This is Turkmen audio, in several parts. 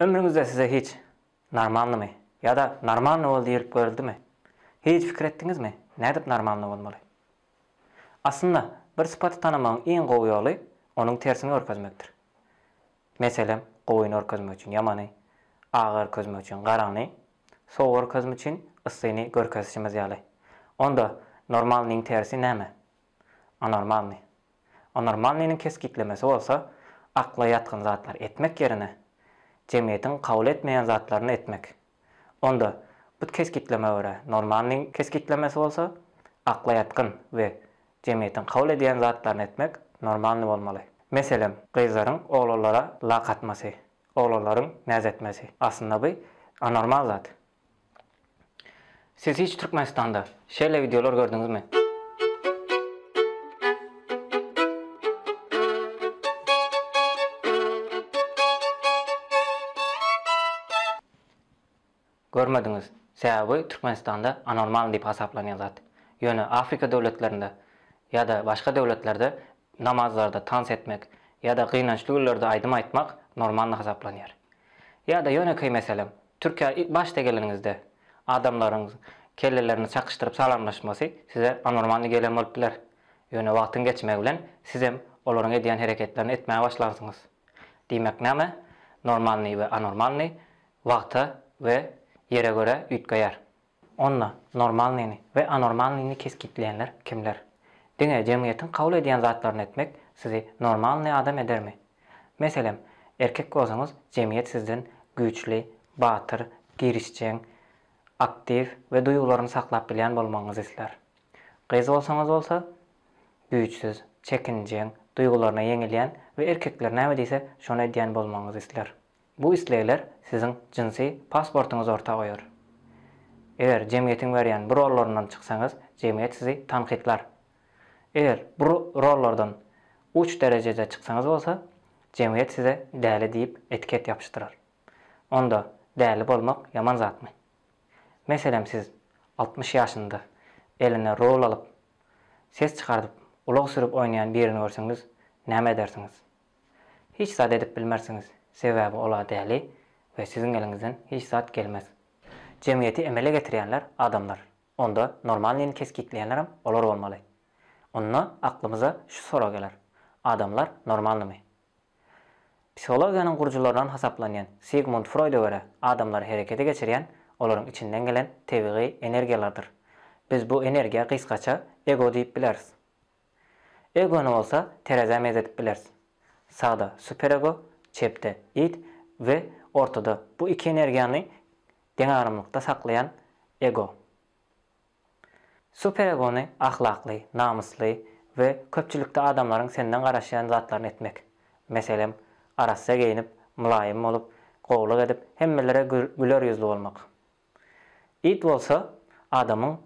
Ömrüňizde size hiç Normalnymy? ýa-da Normalny bol diýlip görüldimi? Hiç pikir etdiňizmi, nädip normalny bolmaly? Aslynda, bir sypaty tanamagyň iň gowy ýoly onuň tersini görkezmekdir. Meselem, gowy nörkezmek üçin ýamany, agy örkezmek üçin garagyny, sowugy görkezmek üçin yssyny görkezişimiz ýaly. Onda normalnyň tersi näme? Anormalnyý. Anormalnynyň kesgitlemesi bolsa, akla ýatgyn zatlary etmek ýerine, jemgyýetiň kabul etmeýän zatlaryny etmek. Onda, bu kesgitlemä görä, normalnyň kesgitlemesi bolsa, akla ýatgyn we jemgyýetiň kabul edýän zatlaryny etmek, normalny bolmaly. Meselem, gyzlaryň oglanlara lak atmasy, oglanlaryň näz etmesi. Aslynda bu anormal zat. Siz hiç Türkmenistanda şeýle wideolar gördüňizmi? Görmediňiz. Sebäbi Türkmenistanda anormal diýip hasaplanýan zat. Ýöne Afrika döwletlerinde ýa-da başga döwletlerde namazlarda tans etmek ýa-da gynançly günlerde aýdym aýtmak normalny hasaplanýar. Ýa-da ýönekeý meselem, Türkiýä ilk başda geleniňizde adamlaryň kellelerini çakyşdyryp salamlaşmasy size anormalnyý gelen bolup biler. Ýöne wagtyň geçmegi bilen sizem olaryň edýän hereketlerini etmäge başlarsyňyz. Diýmek näme? Normalnyý we anormalnyý wagta we ýere görä üýtgeýär. Onda normalnyny we anormalnyny kesgitleýänler kimler? Diňe jemgyýetiň kabul edýän zatlaryny etmek sizi normalny adam edermi? Meselem, erkek bolsaňyz jemgyýet sizden güýçli, batyr, girişjeň, aktiw we duýgularyny saklap bilýän bolmagyňyzy islär. Gyz bolsaňyz bolsa, güýçsüz, çekinjeň, duýgularyna ýeňilýän we erkekler näme diýse, şony edýän bolmagyňyzy isler. Bu islegler siziň jynsy pasportyňyzy orta goýar. Eger jemgyýetiň berýän bu rollaryndan çyksaňyz, jemgyýet sizi tankytlar. Eger bu rollardan uç derejede çyksaňyz bolsa, jemgyýet size däli diýip etiket ýapyşdyrar. Onda däli bolmak ýaman zatmy? Meselem siz altmyş ýaşynda eline rul alyp, ses çykardyp, ulag sürüp oýnaýan birini görseňiz näme edersiňiz? Hiç zat edip bilmersiňiz, sebäbi ol-a däli we siziň eliňizden hiç zat gelmez. Jemgyýeti emele getirýänler adamlar, onda normalnyny kesgitleýänlerem olar bolmaly. Onda aklymyza şu sorag geler, adamlar normalnymy? Psihologiýanyň gurujylaryndan hasaplanýan Sigmund Froýda görä, adamlary herekete geçirýän olaryň içinden gelen tebigy energiýalardyr. Biz bu energiýa gysgaça ego diýip bileris. Egony bolsa terezä meýzedip bileris. Sagda superego, çepde id we ortada bu iki energiýany deňagramlykda saklaýan ego. Superegony ahlakly, namysly we köpçülikde adamlaryň senden garaşýan zatlaryny etmek. Meselem, arassa geýnip, mylaýym bolup, gowulyk edip, hemmelere güler ýüzli bolmak. It bolsa adamyň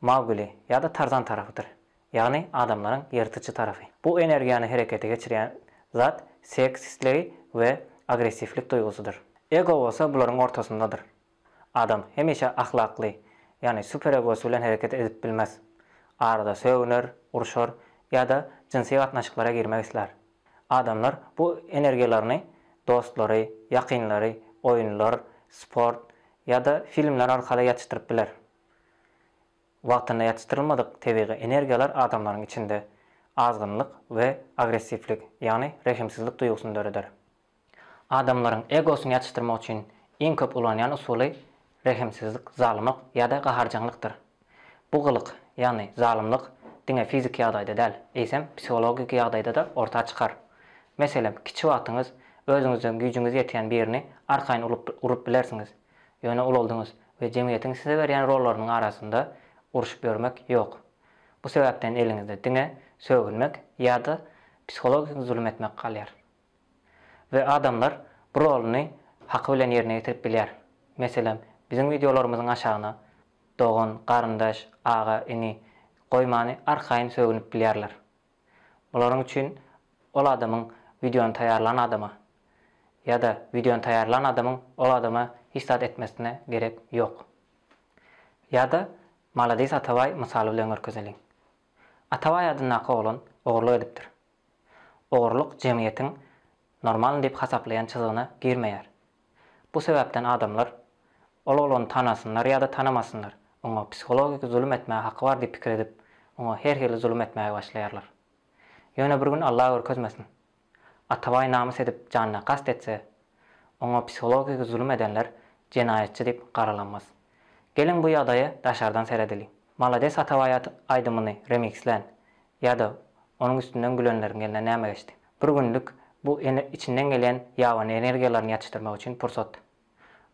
Maugli ýa-da Tarzan tarapydyr, ýagny adamlaryň ýyrtyjy tarapy. Bu energiýany herekete geçirýän zat seks islegi we agressiwlik duýgusydyr. Ego bolsa bularyň ortasyndadyr. Adam hemişe ahlakly, ýagny superegosy bilen hereket edip bilmez. Arada sögüner, urşar ýa-da jynsy gatnaşyklara girmek islär. Adamlar bu energiýalaryny dostlary, ýakynlary, oýunlar, sport ýa-da filmler arkaly ýatyşdyryp biler. Wagtynda ýatyşdyrylmadyk tebigy energiýalar adamlaryň içinde azgynlyk we agressiwlik, ýagny rehimsizlik duýgusyny döreder. Adamlaryň egosyny ýatyşdyrmak üçin iň köp ulanýan usuly rehimsizlik, zalymyk ýa-da gaharjaňlykdyr. Bu gylyk, ýagny zalymlyk diňe fiziki ýagdaýda däl, eýsem psihologiki ýagdaýda-da orta çykar. Meselem, kiçi wagtyňyz özüňizden güýjüňiz ýetýän birini arkaýyn urup bilersiňiz, ýöne ulaldyňyz we jemgyýetiň size berýän rollarynyň arasynda uruşyp ýörmek ýok. Bu sebäpden eliňizde diňe sögünmek ýa-da psihologiki zulum etmek galýar. We adamlar bu rolyny haky bilen ýerine ýetirip bilýär. Meselem, biziň wideolarymyzyň aşagyna dogan, garyndaş, aga, ini goýmany arkaýyn sögünip bilýärler. Bularyň üçin ol adamyň wideony taýýarlan adama ýa-da wideony taýýarlan adamyň ol adama hiç zat etmesine gerek ýok. Ýa-da Maladis Atabaý mysaly bilen görkezeliň. Atabaý adyndaky oglan ogurlyk edipdir. Ogurlyk jemgyýetiň normalny diýip hasaplaýan çyzygyna girmeýär. Bu sebäpden adamlar, ol oglany tanasynlar ýa-da tanamasynlar, oňa psihologik zulum etmäge haky bar diýip pikir edip, oňa her hili zulum etmäge başlaýarlar. Ýöne bir gün Alla görkezmesin, Atabaý namys edip janyna kast etse, oňa psihologik zulum edenler jenaýatçy diýip garalanmaz. Geliň bu ýagdaýa daşardan seredeliň. Malades Atabaý aýdymyny remikslän Ýa-da onuň üstünden gülenleriň eline näme geçdi? Bir günlük bu içinden gelýän ýabany energiýalaryny ýatyşdyrmak üçin pursat.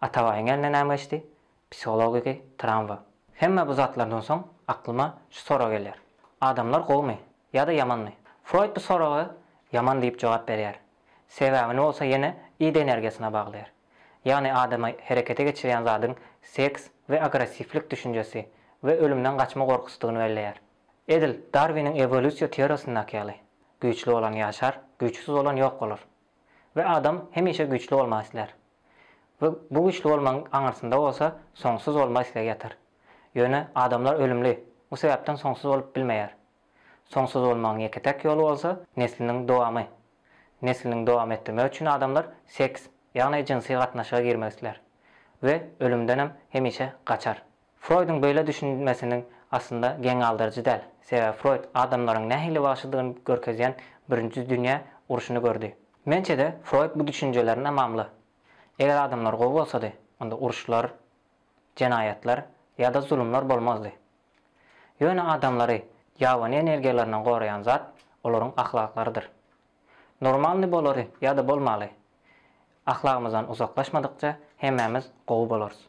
Atabaýyň eline näme geçdi? Psihologiki tramwa. Hemme bu zatlardan soň aklyma şu sorag gelýär. Adamlar gowumy? Ýa-da ýamanmy? Froýd bu soraga ýaman diýip jogap berýär. Sebäbini bolsa ýene id energiýasyna baglaýar. Ýagny adamy herekete geçirýän zadyň seks we agressiwlik düşünjesi we ölümden gaçma gorkusydygyny belleýär. Edil Darwiniň ewolýusiýa teoriýasyndaky ýaly, güýçli bolan ýaşar, güýçsüz bolan ýok bolar. We adam hemişe güýçli bolmak islär. We bu güýçli bolmagyň aňyrsynda bolsa soňsuz bolma islegi ýatar. Ýöne adamlar ölümli, bu sebäpden soňsuz bolup bilmeýär. Soňsuz bolmagyň ýeke-täk ýoly bolsa nesliniň dowamy. Nesliniň dowam etdirmek üçin adamlar seks, ýagny jynsy gatnaşyga girmek islär. We ölümdenem hemişe gaçar. Froýduň beýle düşünmesiniň aslynda geň galdyryjy däl, sebäbi Froýd adamlaryň nähili wagşydygyny görkezýän Birinji dünýä urşuny gördi. Mençede Froýd bu düşünjelerini mamly. Eger adamlar gowy bolsady, onda uruşlar, jenaýatlar ýa-da zulumlar bolmazdy. Ýöne adamlary ýabany energiýalaryndan goraýan zat olaryň ahlaklarydyr. Normalny bolary ýa-da bolmaly, ahlagymyzdan uzaklaşmadykça hemmämiz gowy bolarys.